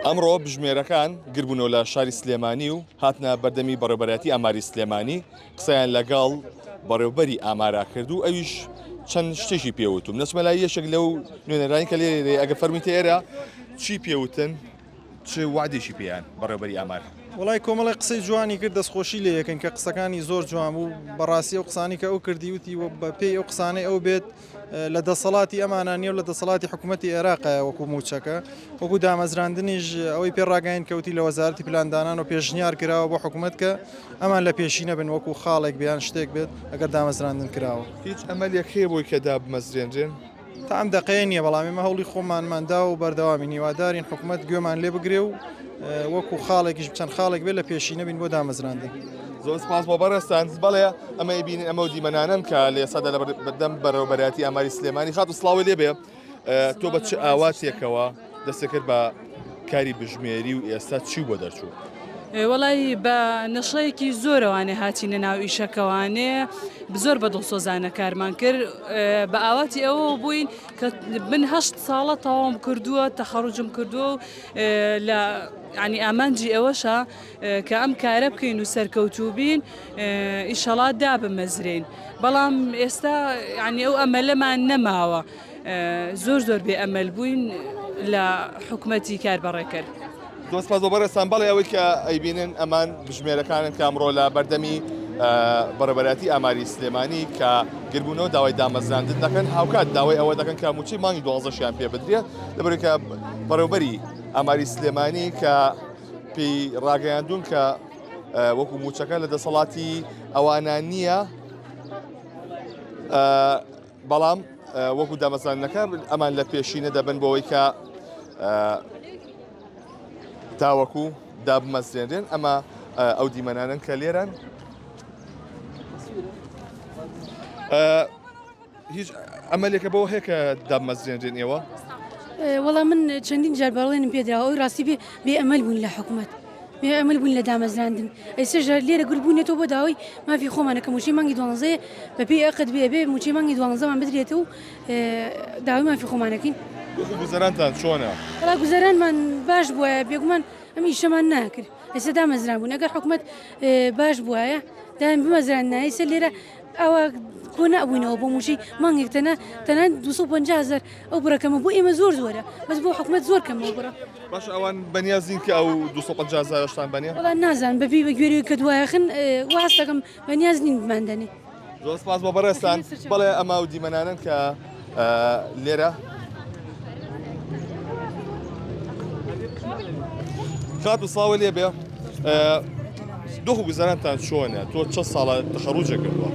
ئەمڕۆ بژمێرەکان گربوونەوە لە شاری سلێمانی و هاتنە بەردەمی بەڕێبەرایەتی ئاماری سلێمانی قسەیان لەگەڵ بەڕێوبەری ئامارا کرد و ئەویش چەند شتێکی پێوتوم نەچمە لای یەکێک لەو نوێنەرانی کە لێ ئەگە فەرمیتە ئێرە چی پێوتن چ وادێکی پێیان بەڕێبەری ئامار وڵای کۆمەڵی قسەی جوانی کرد دەستخۆشی لە یەکەن کە قسەکانی زۆر جوان بوو بەڕاستی ئەو قسانی کە ئەو کردیوتی و بە پێی ئەو قسانەی ئەو بێت لە دەسەڵاتی ئەمانە نیە و لە دەسەڵاتی حکوومەتی عێراقایە وەکو مووچەکە وەکو دامەزراندنیش ئەوەی پێ ڕاگەین کەوتی لە وەزارتی پلاندانان و پێشنیار کراوە بۆ حکوومەت کە ئەمان لە پێشی نەبن وەکو خاڵێک بیان شتێک بێت ئەگەر دامەزراندن کراوە هیچ ئەمەلێک هەیە بۆی کە دابمەزرێنرێن. تا ئەم دەقەیە نییە بەڵام ئێمە هەوڵی خۆمانماندا و بەردەوامی نیوادارین حکوومەت گوێمان لێ بگرێ و وەکو خاڵێکیش چەند خاڵێک بێت لە پێشی نەبین بۆ دامەزراندن زۆر سپاس بۆ بەڕێستان بەڵێ ئەمە بینین ئەمە دیمەنانم کە لە سەدا لە بەردەم بەرەوبەراتی ئاماری سلێمانی خات و سلااوی لێبێ تۆ بە چ ئاواتێکەوە دەستەکرد بە کاری بژمێری و ئێستا چی بۆ دەرچوو وەڵی بە نەشەیەکی زۆرەوانێ هاچینە ناو ئیشەکەوانێ زۆر بە دڵسۆزانە کارمان کرد بە ئاواتی ئەوە بووین کە من هەشت ساڵە تەواوم کردووە تەخەڕجم کردووە و لە یانی ئامانجی ئەوەشە کە ئەم کارە بکەین و سەرکەوتوبین ئیشەڵا دابمەزرێن بەڵام ئێستا ینی ئەو ئەمەلەمان نەماوە زۆر زۆر بێ ئەمەل بووین لە حکومەتی کار بەڕێکرد. دۆست پاز بۆ بەڕێستان بەڵێ ئەوەی کە ئەیبینن ئەمان بژمێرەکانن کامڕۆ لە بەردەمی بەڕێبەراتی ئاماری سلێمانی کە گربوونەوە داوای دامەزراندن دەکەن هاوکات داوای ئەوە دەکەن کە موچەی مانگی دوازدەشیان پێ بدرێت لەبەرکە بەڕێوبەری ئاماری سلێمانی کە پێی ڕاگەیاندون کە وەکو موچەکە لە دەسەڵاتی ئەوانە نییە بەڵام وەکو دامەزانەکە ئەمان لە پێشینە دەبن بۆەوەی کە تاوەکو دابمەزرێنرێن ئەمە ئەو دیمەنانن کە لێران هیچ ئەمەلێکە بەوە هەیە کە دامەزرێنرێن ئێوە؟ وەڵا من چەندین جار بەڵێنم پێدراوە ئەوی ڕاستی بێ بێ ئەمەل بوون لە حکوومەت. ئەمل بوون لە دامەزراندن ئەیسەژە لێرە گربوونێتەوە بۆ داوای مافی خۆمانەکە موچی مانگی دوانزێ بەپی ئەقت بێ بێ موچی مانگی دوانزەمان بدرێت و داوای مافی خۆمانەکەین گوزەرانتان چۆنە؟ ڕا گوزەرانمان باش بووە بێگومان ئەمی شەمان ناکرد ئێستا دامەزران بوون ئەگەر حکوومەت باش بواە دایم بمەزران نایسە لێرە ئەوە کۆنە ئەبووینەوە بۆ موژی مانگێک تەنە تەنان 250هزار ئەو بڕەکەمە بۆ ئێمە زۆر زۆرە بەس بۆ حکومت زۆر کەمەوە بڕە باش ئەوان بەنیازین کە ئەو 250هزارشتان بەنێ نازان بەبی بە گوێری کە دوایخن واستەکەم بەنیاز نین بماندنی زۆر سپاس بۆ بەڕێستان بەڵێ ئەما و دیمەنانن کە لێرە کات و ساوە لێ بێ دۆخ و گوزارانتان چۆنە تۆ چە ساڵە تەخەڕوجە کردووە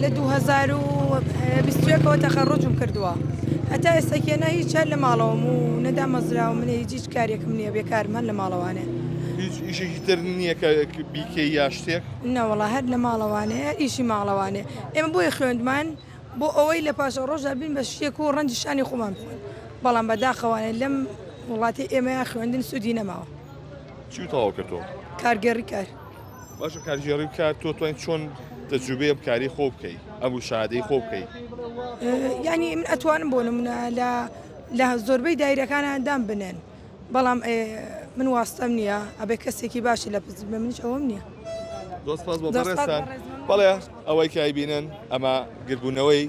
لە 2021ەوە تەخەڕۆجم کردووە هەتا ئێستا کێنا هیچ چار لە ماڵەوەم و نەدا مەزراوە منێ هیچ کارێکم نییە بێ کارمان لە ماڵەوانێ هیچ ئیشێکی تر نییە کە بیکە یا شتێک نەوەڵا هەر لە ماڵەوانەیە ئیشی ماڵەوانێ ئێمە بۆیە خوێندمان بۆ ئەوەی لە پاشەڕۆژدا بین بە شێک و ڕەنجی شانی خۆمان بخۆین، بەڵام بە داخەوانە لەم وڵاتەی ئێمەیا خوێندن سوودی نەماوە. چی تەواو کردووە؟ کارگێڕی کار. باشە کارگێڕی کار تۆ توانیت چۆن تەجروبەی ئەم کاری خۆ بکەی ئەم شادەی خۆ بکەی؟ یانی من ئەتوانم بۆ نمونە لە لە زۆربەی دایرەکانە دام بنێن. بەڵام ئێ من واستەم نییە ئەبێ کەسێکی باشی لە پزی بێ منیش ئەوەم نییە. زۆر سپاس بۆ زۆر سپاس بەڕێزتان بەڕێز من مەمنون بەڵێ بەخش بەخش. ئەوەی کە ئەیبینن ئەمە گردبوونەوەی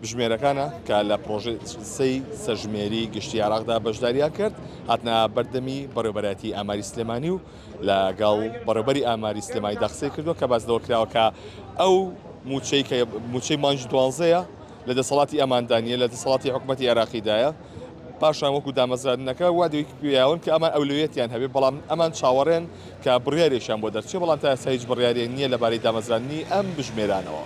بژمێرەکانە کە لە پڕۆژەی سەی سەرژمێری گشتی عێراقدا بەشداریان کرد هاتنە بەردەمی بەڕێوەبەرایەتی ئاماری سلێمانی و لەگەڵ بەڕێوەبەری ئاماری سلێمانیدا قسەی کردووە کە باس لەوە کراوە کە ئەو مووچەی کە مووچەی مانگی دوانزەیە لە دەسەڵاتی ئەماندا نیە لە دەسەڵاتی حکوومەتی عێراقیدایە پاشان وەکو دامەزراندنەکە وا دوی پێیاون کە ئەمان ئەولوێتیان هەبێ بەڵام ئەمان چاوەڕێن کە بڕیارێکیان بۆ دەرچێ بەڵام تا ئێستا هیچ بڕیارێک نییە لەبارەی دامەزراندنی ئەم بژمێرانەوە.